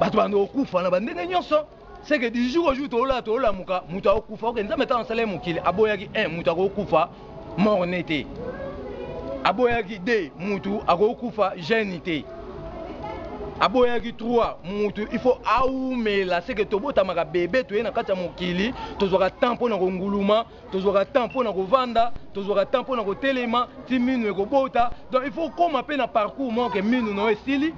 batu banda kokufa na ba ndenge nionso seke du jour au jour tolala tolamuka mutu akokufa ok nzambe tango asalaki mokili aboyaki un mutu akokufa morne te aboyaki de mutu akokufa jeune te aboyaki trois mutu il faut aumela seke tobotamaka bebe toye na kati ya mokili tozwaka temps mpo na konguluma tozwaka temps mpo na kovanda tozwaka temps mpo na kotelema ti minu ekobota donc il faut okoma mpe na parcours moko ke minu na yo esili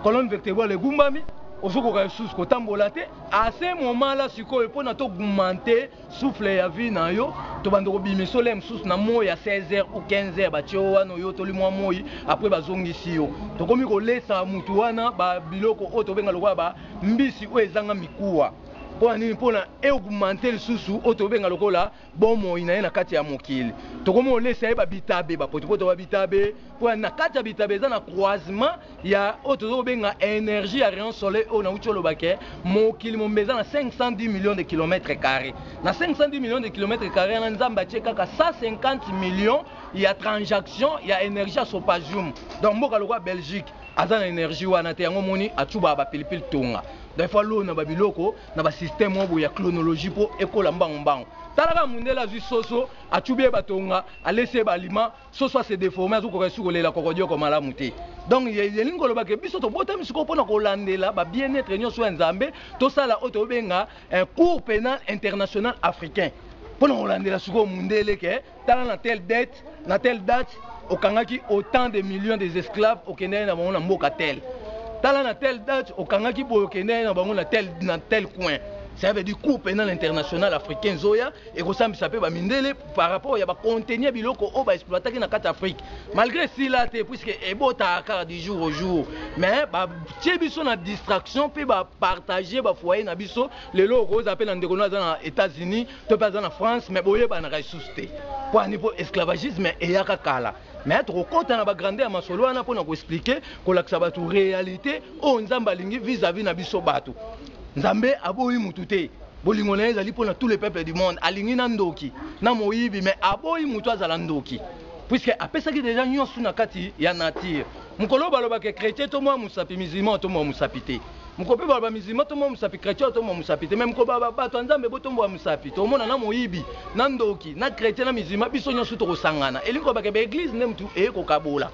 colonne vertebrale egumbami ozokoka lisusu kotambola te ase momala sikoyo mpo na togumante souffle ya vie na yo tobanda kobima esola ya mosusu na moi ya 16h ou 15h batie yo wana oyotoli mwa moi apres bazongisi yo tokomi kolesa motu wana babiloko oyo tobenga lokola ba mbisi oyo ezanga mikuwa mpo na nini mpo na eaugmente lisusu oyo tobenga lokola bomoi na ye na kati ya mokili tokomi kolesa ye babitabe bapotopoto babitabe mpo na kati ya bitabe eza na croisement ya oyo tozo kobenga energie ya rayon soleil oyo nawuti oloba ke mokili mombe eza na 510 millions de kilomètre carre na 510 millions de kilomètre carre wana nzambe atie kaka 150 millions ya transaction ya energie ya sopagium donc mboka lokola belgique aza na energie wana te yango omoni atubaka bapilipili tonga donc ifo alona babiloko na basystème oyo boye ya chronologie mpo ekola mbangu mbangu talaka mundele azwi soso atubi ye batonga alesi ye baalima Soso a se deformer azo koka lisusu ko lela kokodioko malamu te. Donc elingi ko loba ke biso to botami sikoyo pona ko landela ba bien etre nioso ya Nzambe, to sala oyo to benga un cour penal international africain. Pona ko landela sikoyo mundele ke tala na tel date, na tel date o kangaki autant de millions des esclaves o kendaki na bango na mboka tel. Tala na tel date o kangaki boye o kendaki na bango na tel na tel coin. Cela veut dire cour penal international africain ezoya. ekosambisa pe ba mindele par rapport ya ba contenu ya biloko oyo ba exploitaki na kati Afrique malgre sila te puisque ebotaka kaka du jour au jour mais batie biso na distraction pe ba partager ba foyer na biso lelo okozala pe na ndeko no aza na Etats-Unis to pe aza na France mais boyebanaka lisusu te po ani po esclavagisme eyaka kala mais tokokota na ba grandeur ya masolo wana pona ko expliquer kolakisa bato realite oyo Nzambe alingi vis-à-vis na biso bato Nzambe aboyi mutu te Bolingo na ye ezali mpo na tous les peuples du monde. Alingi na ndoki, na moyibi mais aboyi mutu azala ndoki puisque apesaki dejà nionso na kati ya nature. Mokolo oyo baloba que chretien to mua musapi, musulman oto mua musapi te. Mokolo pe baloba musulman to mua musapi, chretien oto mua musapi te mais mokolo baloba batu ya Nzambe bo tombua musapi, tokomona na moyibi, na ndoki, na chretien, na musulman biso nionso toko sangana. Elingi koloba que ba eglises nde mutu eye kokabola.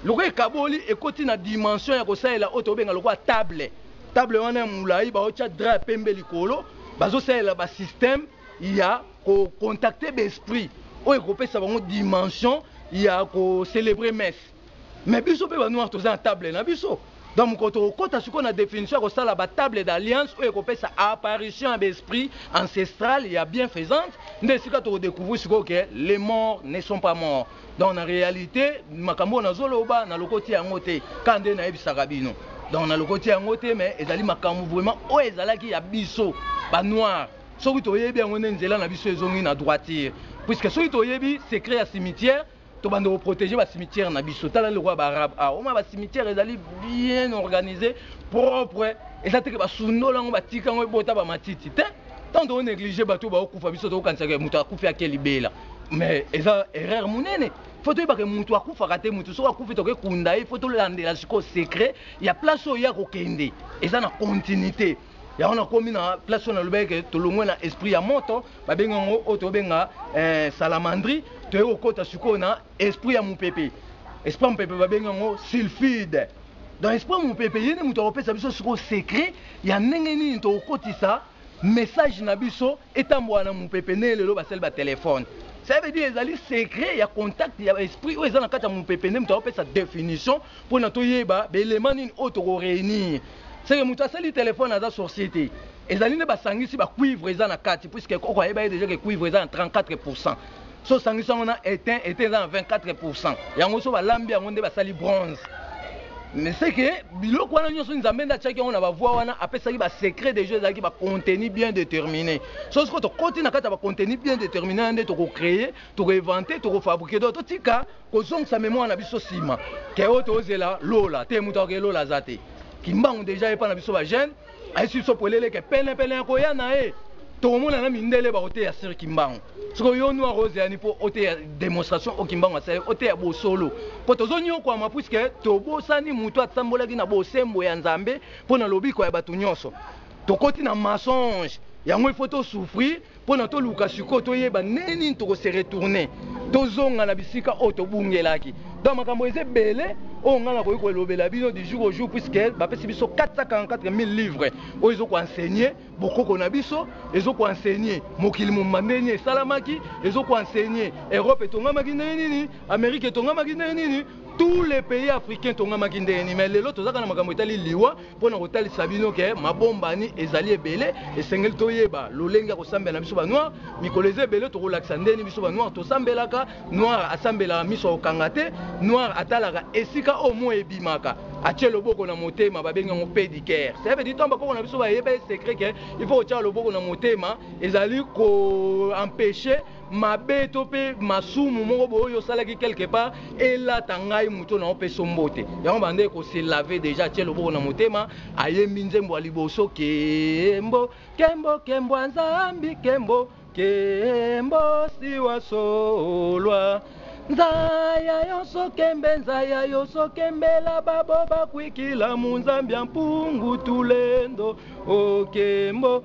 Lokola ekaboli ekoti na dimension ya kosalela oyo tokobenga lokola table. Table wana ya mulayi baotya drap ya pembe likolo, bazosalela ba système ya ko contacter ba esprit oyo ekopesa bango dimension ya ko celebrer messe. Mais biso pe ba noir toza na table na biso. Donc mokolo tokokota sikoyo na definition ya kosala ba table d'alliance oyo ekopesa apparition ya ba esprit ancestrale ya bienfaisante nde esika toko decouvrir sikoyo que les morts ne sont pas morts. Donc na realite makambo oyo nazo loba na lokoti yango te kaka nde na yebisaka bino. Donc na lokoti yango te mais ezali makambo vraiment oyo ezalaki ya biso ba noir. Soki toyebi yango nde nzela na biso ezongi na droiture. Puisque soki toyebi secret ya cimetière tobanda koprotege bacimetière na biso tala lokola baarabe awa ah, omona bacimetière ezali bien organise propre eza teke basundola yango batika yango ebota bamatiti te ntango toonéglige bato oyo baokufa biso tokokanisaka moto akufi ake libela mais eza erreur monene fo toyebaka motu akufaka te motu soki akufi toke kunda ye fo tolandela sikoyo secret ya place oyo ye akokende eza na continuité yango nakomi na place oyo nalobaki ke tolongwe na esprit ya moto babengi yango oyo tobenga eh, salamandri toye kokota sikoyo na esprit ya mopepe esprit ya mopepe babengi yango sulfide donc esprit ya mopepe ye nde moto akopesa biso sikoyo secret ya ndenge nini tokokotisa Message na biso etambola na mupepe nde lelo basali ba telephone ça veut dire ezali secret ya contact ya ba esprit oyo eza na kati ya mupepe nde moto akopesa definition pona toyeba ba element nini oyo toko reunir seke moto asali telephone aza sorcier te ezali nde ba sangisi ba cuivre eza na kati puisque koko ayebaki dejà ke cuivre eza na 34 pourcent so osangisi yango na etain etain eza na 24 pourcent yango so balambi yango nde basali bronze mais c'est que biloko wana nyonso nzambe nde atiaki yango na bavoi wana apesaki basecret de jeu ezalaki bacontenu bien déterminé so sikoyo tokoti na kati ya bacontenu bien déterminé wana nde tokocreye tokoevante tokofabrike do totika kozongisa memoire na biso nsima ke oyo tozela lola te moto akoke lola aza te kimbangu deja epa na biso bajeune Aisi sopo eleleke pene pene ya koya na ye tokomona na mindele bakoteya sir kimbangu soko yo noir ozeyani mpo oteya demonstration o kimbangu asali oteya bosolo mpo tozonyokwama puiske tobosani moto atambolaki na bosembo ya nzambe mpo na lobiko ya bato nyonso tokoti na mensonge yango ifo tosouffrir Pona toluka sikoyo toyeba ndenge nini toko se retourner, tozonga na bisika oyo tobungelaki. Donc makambo eza ebele oyo ngai nakoki kolobela bino du jour au jour puisque bapesi biso 444000 livres oyo ezo ko enseigner bokoko na biso, ezo ko enseigner mokili mobimba ndenge nini esalamaki, ezo ko enseigner Europe etongamaki ndenge nini, Amerique etongamaki ndenge nini, tous les pays africains etongamaki ndenge nini. Mais lelo toza kaka na makambo etali liwa. Mpo na kotalisa bino ke mabombani ezali ebele, esengeli toyeba lolenge ya kosambela na biso ba noir. Mikolo eza ebele tokolakisa ndeni biso ba noir tosambelaka. Noir asambelaka miso ya kokanga te, noir atalaka esika oyo moi ebimaka, atie loboko na motema babengi yango pedicare. Cela veut dire tango bakoko na biso bayebaki secret ke il faut kotiaka loboko na motema ezali ko empecher mabe to pe masumu moko boye oyo osalaki quelque part elata ngai moto na opeso mbote yango banda eko se lave deja atie loboko na motema ayembi nzembo ya liboso kembo kembo kembo ya nzambi kembo kembo siwa solwa nzaya yonso kembe nzaya yonso kembela babo bakwikila munzambi ya mpungu tulendo okembo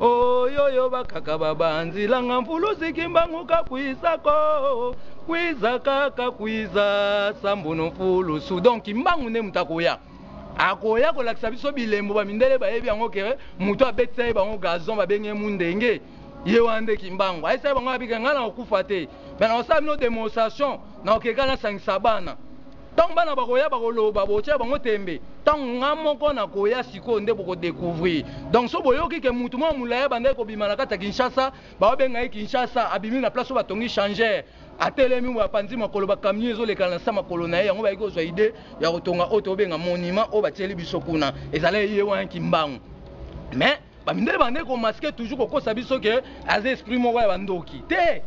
Oyoyo bakaka babanzi langa mfulusi kimbangu kakuisako kwiza kaka kwiza sambono mfulusu donc kimbangu nde moto akoya akoya kolakisa biso bilembo bamindele bayebi yango kere moto abetisa ye bango gazon babengi ye mundenge ye wana nde kimbangu ayesa ye bango abika ngai na kokufa te me na kosala bino demonstration na kokeka nasangisa bana Tango bana bakoya bakoloba botia bango tembe tango nga moko nakoya sikoyo nde boko decouvrir donc soki boyoki ke mutu moko ya mulayi abandaki kobima na kati ya Kinshasa baobenga ye Kinshasa abimi na place oyo batongi changeur atelemi oyo apanzi makolo ba camion ezoleka nase ya makolo naye yango bayaki kozua idee ya kotonga oyo tobenga monument oyo batieli biso kuna ezalaki ye wana kimbangu mais Ba mindele bande ko masquer toujours ko kosa biso que aza esprit moko ya bandoki. Te.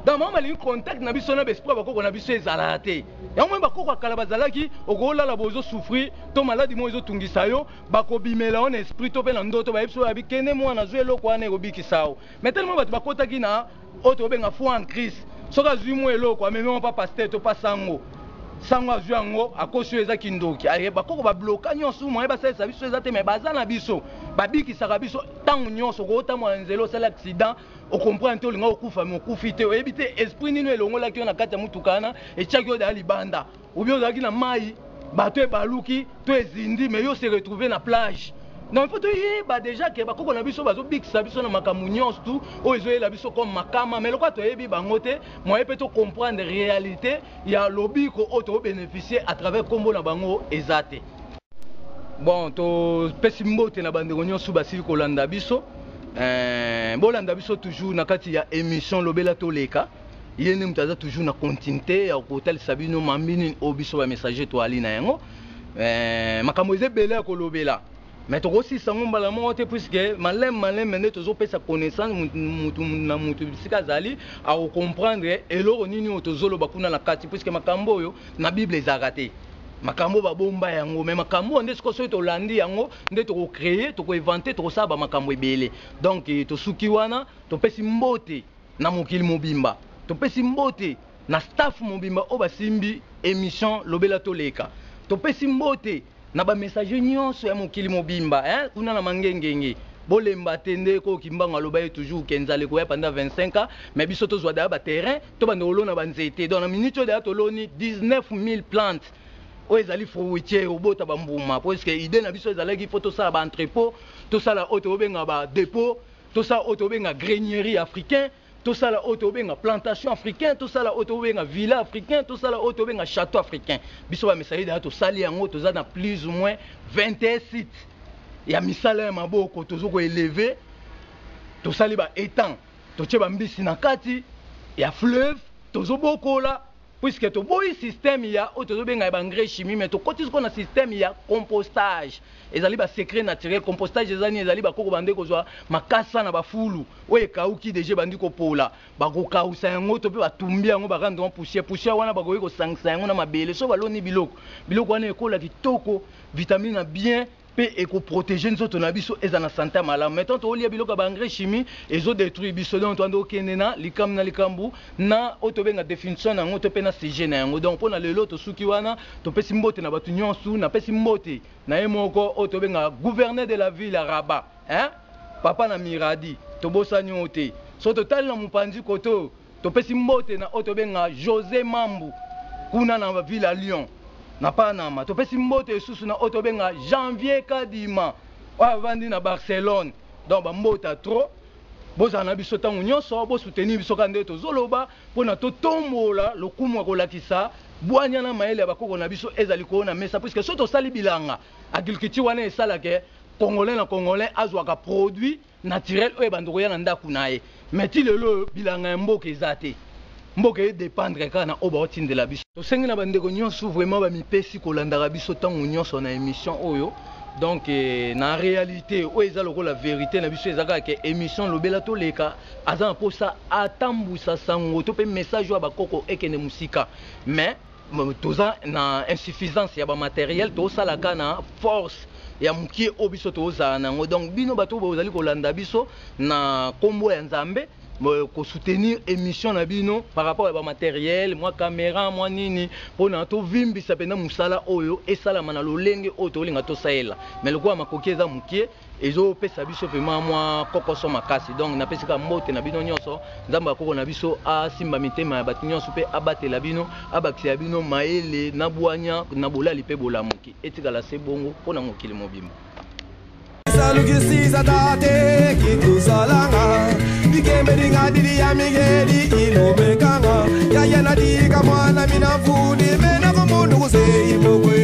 Donc maman balingi contact na biso na besprit ya bakoko na biso ezala te. Yango moni bakoko ya kala bazalaki okolala bozo souffrir to maladi moko ezo tungisa yo bakobimela yo na esprit to pe na ndoto bayebisi yo abi kende mwana zwa eloko wana ekobikisa yo. Mais tellement bato bakotaki na oyo tobenga foi en Christ soki azui mwa eloko amemi yango pa pasteur to pa sango sango azui yango akosi oyo eza kindoki aye bakoko ba bloka nyonso moyen basalisa biso eza te mais baza na biso babikisaka biso ntango nyonso okootambola na nzela osali accident okomprendre te olinga okufa me okufi te oyebi te esprit nini elongolaki yo na kati ya motuka wana etiaki yo daya libanda Ou bien ozalaki na mayi, bateau ebaluki to ezindi mais yo se retrouver na plage. Donc il faut toyeba dejà que bakoko na biso bazobikisa biso na makambo nyonso tu oyo ezoyela biso comme makama mais lokola toyebi bango te moyen mpe to comprendre realite ya lobiko oyo tobeneficie à travers nkombo na bango eza te. Bon, topesi mbote na bandeko nyonso basili kolanda biso. Eh, bolanda biso toujours na kati ya emission Lobela Toleka. ye nde moto aza toujours na continuité ya kotalisa bino mambi nini oyo biso ba messager toali na yango eh, makambo eza ebele ya kolobela mais tokosilisa yango mbala moko te puiske maleme maleme nde tozopesa connaissance mutu na mutu bisika azali akokomprendre eloko nini oyo tozoloba kuna na kati puiske makambo oyo na bible ezalaka te makambo babomba yango me makambo oyo nde sikoyo soki tolandi yango nde tokocreye tokoevante tokosala bamakambo ebele donk eh, tosuki wana topesi mbote na mokili mobimba. Topesi mbote na staff mobimba oyo basimbi emission lobela toleka. Topesi mbote na ba messagers nionso ya mokili mobimba hein kuna na mangengenge. Bolemba te ndeko oyo kimbangu aloba ye toujours que nzala ekoya pendant 25 ans mais biso tozua deja ba terrain tobanda kolona ba nzete donc na minute oyo deja toloni 19000 plantes oyo ezali fruitier obota ba mbuma puisque idee na biso ezalaki il faut tosala ba entrepot tosala oyo tobenga ba depot tosala oyo tobenga grainerie africain tosala oyo tobenga plantation africain tosala oyo tobenga villa africain tosala oyo tobenga château africain biso bamesali daya tosali yango toza na plus ou moins 21 site ya misala ya maboko tozo koeleve tosali baétang totie bambisi na kati ya fleuve tozobokola puisque toboyi système ya oyo tozo benga ya ba engrais chimie mais tokoti sikoyo na système ya compostage ezali ba secret naturel compostage eza nini ezali bakoko bande kozwa makasa na bafulu oyo ekauki deja ebandi kopola bakokausa yango to mpe batumbi yango ba rendre yango poussière poussière wana bakoki kosangisa yango na mabele soki baloni biloko biloko wana ekola kitoko vitamine na bien pe eko proteger nzoto na biso ezala na sante ya malamu mais tant tolia biloko ya ba engrais chimie ezo detruire biso donc toando okende na likambo na likambo na oyo tobenga definition na yango to pe na sujet na yango donc pona lelo tosuki wana topesi mbote na batu nionsu napesi mbote na ye moko oyo tobenga gouverneur de la ville ya Rabat hein papa na miradi tobosani yo te soki totali na mopanzi koto Topesi mbote na oyo tobenga Jose Mambu kuna na ville ya Lyon, na Panama. Topesi mbote lisusu na oyo tobenga Janvier Kadima oyo avandi na Barcelone. Donc ba mbote ya trop. Bozala na biso tango nionso, bo soutenir biso kaka ndenge tozoloba pona totombola lokumu ya kolakisa bwanya na mayele ya bakoko na biso ezali ko na mesa puisque soki tosali bilanga agriculture wana esala ke Congolais na Congolais azwaka produit naturel oyo ebanda koya na ndaku naye mais ti lelo oyo bilanga ya mboka eza te mboka e dependre kaka na oyo bao tindela biso. Tosengi na ba ndeko nionso vraiment ba mipesi kolandaka biso tango nionso na emission oyo donc na realite oyo eza lokola verite na biso eza kaka ke emission lobela toleka aza na posa atambusa sango to pe message oyo ya ba koko ekende musika mais toza na insuffisance ya ba matériel tosala ka na force ya mokie oyo biso tozala na yango donc bino bato bozali kolanda biso na nkombo ya nzambe kosoutenir émission na bino par rapport ya bamateriel mwa caméra mwa nini mpona tovimbisa mpenza mosala oyo esalama na lolenge oyo tolinga tosalela mai lokola makoki eza moke ezopesa biso vraiment mwa kokoso makasi donc napesika mbote na bino nyonso nzambe ya koko na biso asimba mitema ya bato nyonso mpe abatela bino abakisa ya bino mayele na bwanya na bolali mpe bolamuki etikala se bongo mpo na mokili mobimba dili ya migeli ilobekanga yaya nadika mwana minavuni menakomundu kuseimokwe